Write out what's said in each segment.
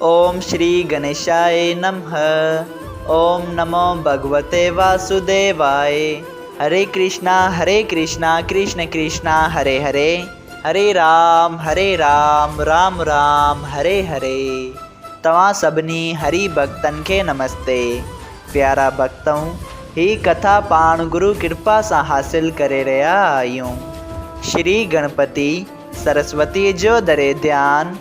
اوم شري گنيشائي نمه اوم نمو ڀڳوتي واسوديوائي هري ڪرشنا هري ڪرشنا ڪرشن ڪرشنا هري هري هري رام هري رام رام رام هري هري توهان سڀني هري ڀڳتن کي نمستي پيارا ڀڳتؤن هي ڪٿا پاڻ گرو ڪرپا سان حاصل ڪري رهيا آهيون شري گڻپتي سرسوتي جو دري ڌيان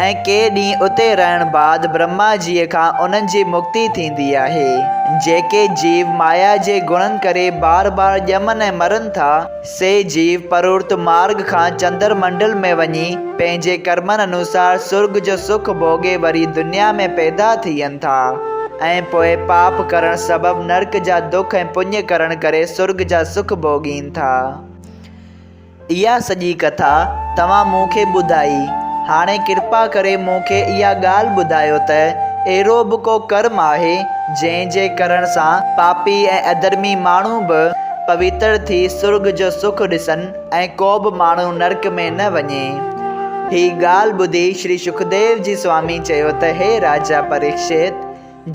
۽ ڪي ڏينهن اتي رهڻ بعد برهما جيء کان انهن جي مڪتي ٿيندي آهي. جيڪي جيو مايا جي گڻن ڪري بار بار ڄمن ۽ مرن ٿا، سي جيو پرورت مارڳ کان چندر منڊل ۾ وڃي پنهنجي ڪرمن انوسار سرڳ جو سک ڀوڳي وري دنيا ۾ پيدا ٿين ٿا ۽ پوء پاپ ڪرڻ سبب نرڪ جا دک ۽ پڃ ڪرڻ ڪري سرڳ جا سک ڀوڳين ٿا. اها سڄي ڪٿا توهان مون کي ٻڌائي. هاڻي ڪرپا ڪري مون کي اها ڳالهه ٻڌايو ته اهڙو به ڪو ڪرم آهي، جنهن جي ڪرڻ سان پاپي ۽ اڌرمي ماڻهو به پويتر ٿي سرڳ جو سک ڏسن ۽ ڪو به ماڻهو نرڪ ۾ نه وڃي. هي ڳالهه ٻڌي شري شڪديو جي سوامي چيو ته هي راجا پريڪشت!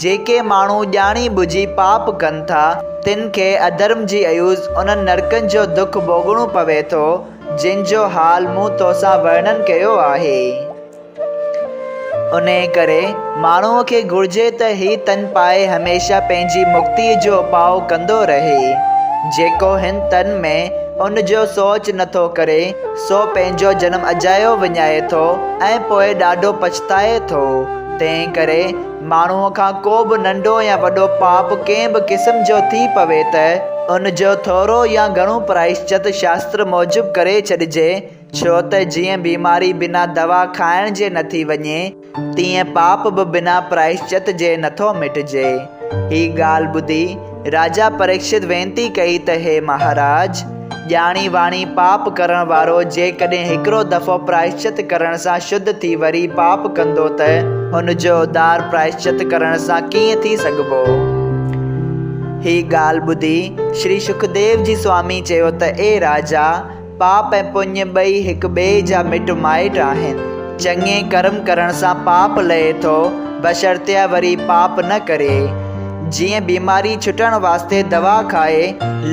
جيڪي ماڻهو ڄاڻي ٻجهي پاپ ڪن ٿا، تن کي اڌرم جي عيوض انهن نرڪن جو دک ڀوڳڻو پوي ٿو، جن جو حال مون تو سان ورڻن ڪيو آهي. انهيء ڪري ماڻهوء کي گهرجي ته هي تن پائي هميشه پنهنجي مڪتيء جو اپاء ڪندو رهي. جيڪو هن تن ۾ ان جو سوچ نه ٿو ڪري، سو پنهنجو جنم اجايو وڃائي ٿو ۽ پوء ڏاڍو پڇتائي ٿو. تنهن ڪري ماڻهوء کان ڪو به ننڍو يا وڏو پاپ ڪنهن به قسم جو ٿي پوي ته ان جو ٿورو يا گهڻو پرائشچت شاستر موجب ڪري ڇڏجي، ڇو ته جيئن بيماري بنا دوا کائڻ جي نه ٿي وڃي، تيئن پاپ به بنا پرائشچت جي نه ٿو مٽجي. هي ڳالهه ٻڌي راجا پريڪشت وينتي ڪئي ته هي مهاراج! ڄاڻي واڻي پاپ ڪرڻ وارو جيڪڏهن هڪڙو دفعو پرائشچت ڪرڻ سان شڌ ٿي وري پاپ ڪندو ته ان جو اوڌار پرائشچت ڪرڻ سان ڪيئن ٿي سگهبو؟ هي ڳالهه ٻڌي شري شڪديو جي سوامي چيو ته اي راجا! پاپ ۽ پڃ ٻئي هڪ ٻئي جا مٽ مائٽ آهن. چڱي ڪرم ڪرڻ سان پاپ لهي ٿو، بشرطيه وري پاپ نه ڪري. جيئن بيماري ڇٽڻ واسطي دوا کائي،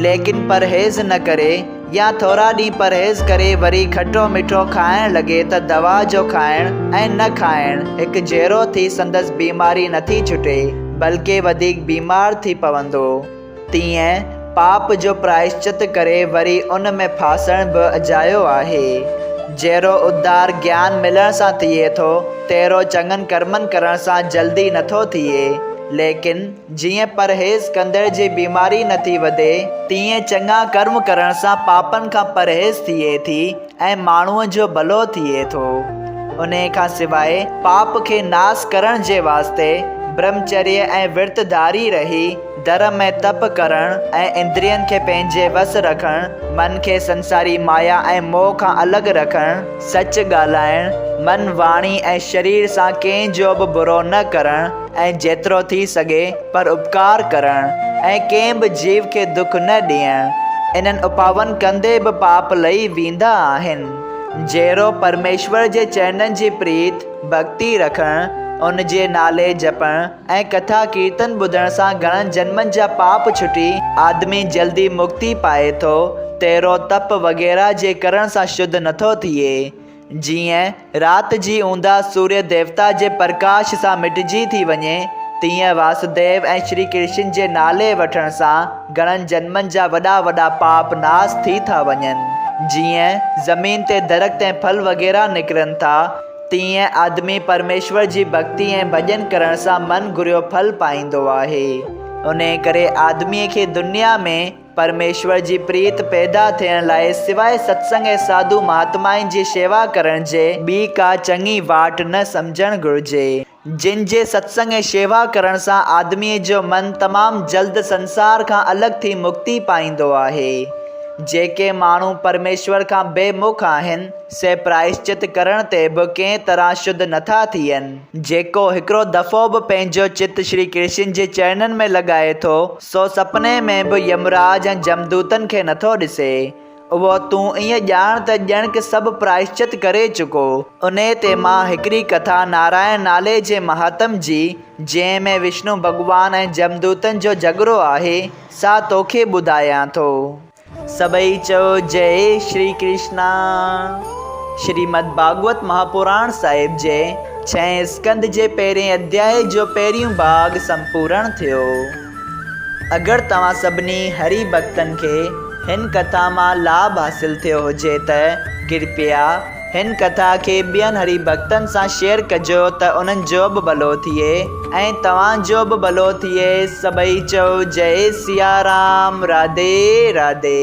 ليڪن پرهيز نه ڪري يا ٿورا ڏينهن پرهيز ڪري وري کٽو مٺو کائڻ لڳي ته دوا جو کائڻ ۽ نه کائڻ هڪ جهڙو ٿي سندس بيماري نٿي ڇٽي بلڪه وڌيڪ بيمار ٿي پوندو. تيئن پاپ جو پرائشچت ڪري وري ان ۾ ڦاسڻ به اجايو آهي. جهڙو ادھار گيان ملڻ سان ٿئي ٿو، تهڙو چڱن ڪرمن ڪرڻ سان جلدي نه ٿو ٿئي. ليڪن جيئن پرهيز ڪندڙ جي بيماري نه ٿي وڌي، تيئن چڱا ڪرم ڪرڻ سان پاپن کان پرهيز ٿئي ٿي. ۽ ماڻهوء جو ڀلو ٿئي ٿو. انهيء کان سواء پاپ کي ناس ڪرڻ جي واسطي برهمچريه ۽ ورت ڌاري رهي، ڌرم ۽ تپ ڪرڻ ۽ اندرين کي پنهنجي وس رکڻ، من کي سنساري مايا ۽ موهه کان الڳ رکڻ، سچ ڳالهائڻ، من، واڻي ۽ شرير سان ڪنهن جو به برو نه ڪرڻ، ۽ جيترو ٿي سگهي پر اپڪار ڪرڻ ۽ ڪنهن به جيو کي دک نه ڏيڻ، انهن اپائن ڪندي به پاپ لهي ويندا آهن. جهڙو پرميشور جي چرنن جي پريت، ڀڳتي، رکڻ، ان جي نالي جپڻ ۽ ڪٿا ڪيرتن ٻڌڻ سان گهڻن جنمن جا پاپ ڇٽي آدمي جلدي مڪتي پائي ٿو، تهڙو تپ وغيره جي ڪرڻ سان شڌ نٿو ٿئي. جيئن رات جي اونداھ سوريا ديوتا جي پرڪاش سان مٽجي ٿي وڃي، تيئن واسوديو ۽ شري ڪرشن جي نالي وٺڻ سان گھڻن جنمن جا وڏا وڏا پاپ ناس ٿي ٿا وڃن. جيئن زمين تي درخت ۽ ڦل وغيره نڪرن ٿا، تيئن آدمي پرميشور جي ڀڳتي ۽ ڀڄن ڪرڻ سان من گھريو ڦل پائيندو آھي. انھيء ڪري آدميء کي دنيا ۾ پرميشور جي پريت پيدا ٿيڻ لاء سواء ستسنگ ۽ ساڌو مهاتمائن جي شيوا ڪرڻ جي ٻي ڪا چڱي واٽ نه سمجهڻ گهرجي، جن جي ستسنگ ۽ شيوا ڪرڻ سان آدميء جو من تمام جلد سنسار کان الڳ ٿي مڪتي پائيندو آهي. جيڪي ماڻهو پرميشور کان بي مک آهن، سي پرائشچت ڪرڻ تي به ڪنهن طرح شڌ نه ٿا ٿين. جيڪو هڪڙو دفعو به پنهنجو چت شري ڪرشن جي چرنن ۾ لڳائي ٿو، سو سپني ۾ به يمراج ۽ جمدوتن کي نٿو ڏسي. اهو تون ائين ڄاڻ ته ڄڻڪ سڀ پرائشچت ڪري چڪو. انهيء تي مان هڪڙي ڪٿا نارائڻ نالي جي مهاتم جي، جنهن ۾ وشنو ڀڳوان ۽ جمدوتن جو جهڳڙو آهي، سا توکي ٻڌايان ٿو. سڀئي چئو جئي شري ڪرشنا. شريمد ڀاڳوت مهاپراڻ صاحب جي ڇهين اسڪنڌ جي پهرين اڌياء جو پهريون ڀاڳ سمپورڻ ٿيو. اگر توهان سڀني هري ڀڳتن کي هن ڪٿا مان لاڀ حاصل ٿيو هجي ته ڪرپيا هن ڪٿا کي ٻين هري ڀڳتن سان شيئر ڪجو ته انهن جو به ڀلو ٿئي ۽ توهان جو به ڀلو ٿئي سڀئي چئو جئي سيارام راڌي راڌي.